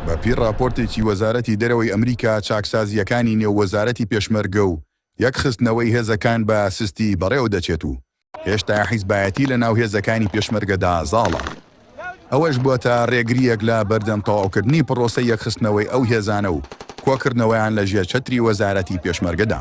بەپێی ڕاپۆرتێکی وەزارەتی دەرەوەی ئەمریکا، چاکسازییەکانی نێو وەزارەتی پێشمەرگە و یەکخستنەوەی هێزەکان بە سستی بەڕێوەدەچێت و هێشتا حیزبایەتی لەناو هێزەکانی پێشمەرگەدا زاڵە، ئەوەش بووەتە ڕێگرییەک لە بەردەم تەواوکردنی پڕۆسەی یەکخستنەوەی ئەو هێزانە و کۆکردنەوەیان لەژێر چەتری وەزارەتی پێشمەرگەدا.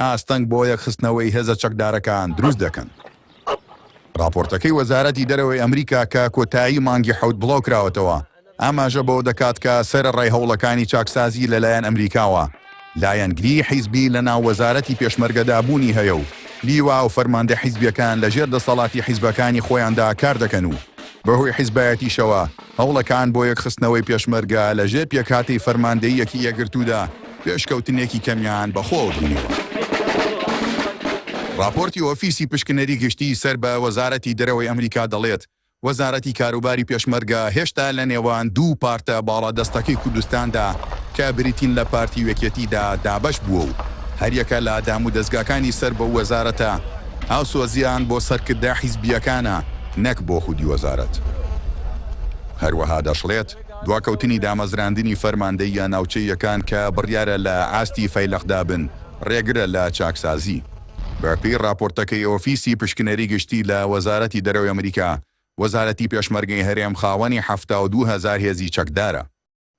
ئاستەنگ بۆ یەکخستنەوەی هێزە چەکدارەکان دروست دەکەن. ڕاپۆرتەکەی وەزارەتی دەرەوەی ئەمریکا کە کۆتایی مانگی حەوت بڵاوکراوەتەوە، ئاماژە بەوە دەکات کە سەرەڕای هەوڵەکانی چاکسازی لەلایەن ئەمریکاوە، لایەنگریی حیزبی لەناو وەزارەتی پێشمەرگەدا بوونی هەیە و لیوا و فەرماندە حیزبییەکان لەژێر دەسەڵاتی حیزبەکانی خۆیاندا کاردەکەن و بەهۆی حیزبایەتیشەوە هەوڵەکان بۆ یەکخستنەوەی پێشمەرگە لە ژێر پێکهاتەی فەرماندەییەکی یەکگرتوودا پێشکەوتنێکی کەمیان بەخۆوە بینیوە. ڕاپۆرتی ئۆفیسی پشکنەری گشتی سەر بە وەزارەتی دەرەوەی ئەمریکا دەڵێت، وەزارەتی کاروباری پێشمەرگە هێشتا لە نێوان دوو پارتە باڵادەستەکەی کوردستاندا کە بریتین لە پارتی و یەکێتیدا دابەش بووە و هەریەکە لە دامودەزگاکانی سەر بەو وەزارەتە هاوسۆزیان بۆ سەرکردە حیزبییەکانە نەک بۆ خودی وەزارەت. هەروەها دەشڵێت، دواکەوتنی دامەزراندنی فەرماندەییە ناوچەییەکان کە بڕیارە لە ئاستی فەیلەقدا بن، رێگرە لە چاکسازی. بەپێی راپۆرتەکەی ئۆفیسی پشکنەری گشتی لە وەزارەتی دەرەوەی ئەمریکا، وەزارەتی پێشمەرگەی هەرێم خاوەنی حەفتا و دوو هەزار هێزی چەکدارە.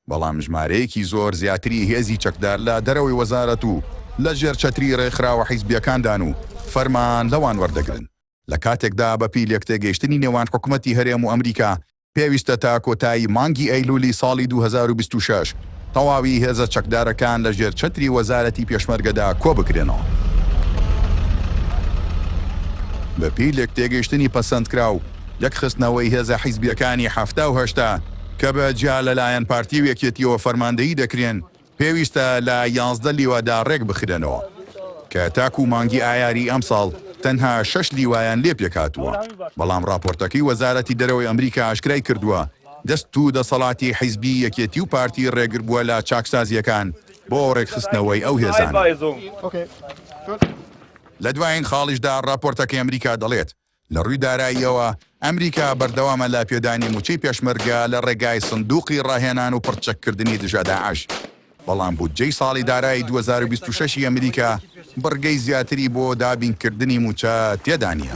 بەڵام ژمارەیەکی زۆر زیاتری هێزی چەکدار لە دەرەوەی وەزارەت و لە ژێر چەتری رێکخراوە حیزبییەکاندان و فەرمان لەوان وەردەگرن، لە کاتێکدا بەپێی لێکتێگەیشتنی نێوان حکومەتی هەرێم و ئەمریکا پێویستە تا کۆتایی مانگی ئەیلولی ساڵی دوو هەزار و بیست و شەش تەواوی هێزە چەکدارەکان لە ژێر چەتری وەزارەتی پێشمەرگەدا کۆبکرێنەوە. بەپێی لێکتێگەیشتنی پەسەندکراو، یەکخستنەوەی هێزە حیزبییەکانی حەفتا و هەشتا، کە بە جیا لە لایەن پارتی و یەکێتیەوە فەرماندەیی دەکرێن، پێویستە لە یازدە لیوادا رێک بخرێنەوە، کە تاکو مانگی ئایاری ئەمساڵ تەنها شەش لیوایان لێ پێک هاتووە، بەڵام راپۆرتەکەی وەزارەتی دەرەوەی ئەمریکا ئاشکرای کردووە، دەست و دەسەڵاتی حیزبی یەکێتی و پارتی رێگر بووە لە چاکسازییەکان بۆ رێکخستنەوەی ئەو هێزانە. لە دوایین خاڵیشدا راپۆرتەکەی ئەمریکا دەڵێت، لە ڕووی داراییەوە، ئەمریکا بەردەوامە لە پێدانی مووچەی پێشمەرگە لە ڕێگای سندووقی ڕاهێنان و پڕچەککردنی دژە داعش، بەڵام بودجەی ساڵی دارایی دوو هەزار و بیست و شەش ی ئەمریکا بڕگەی زیاتری بۆ دابینکردنی مووچە تێدا نییە.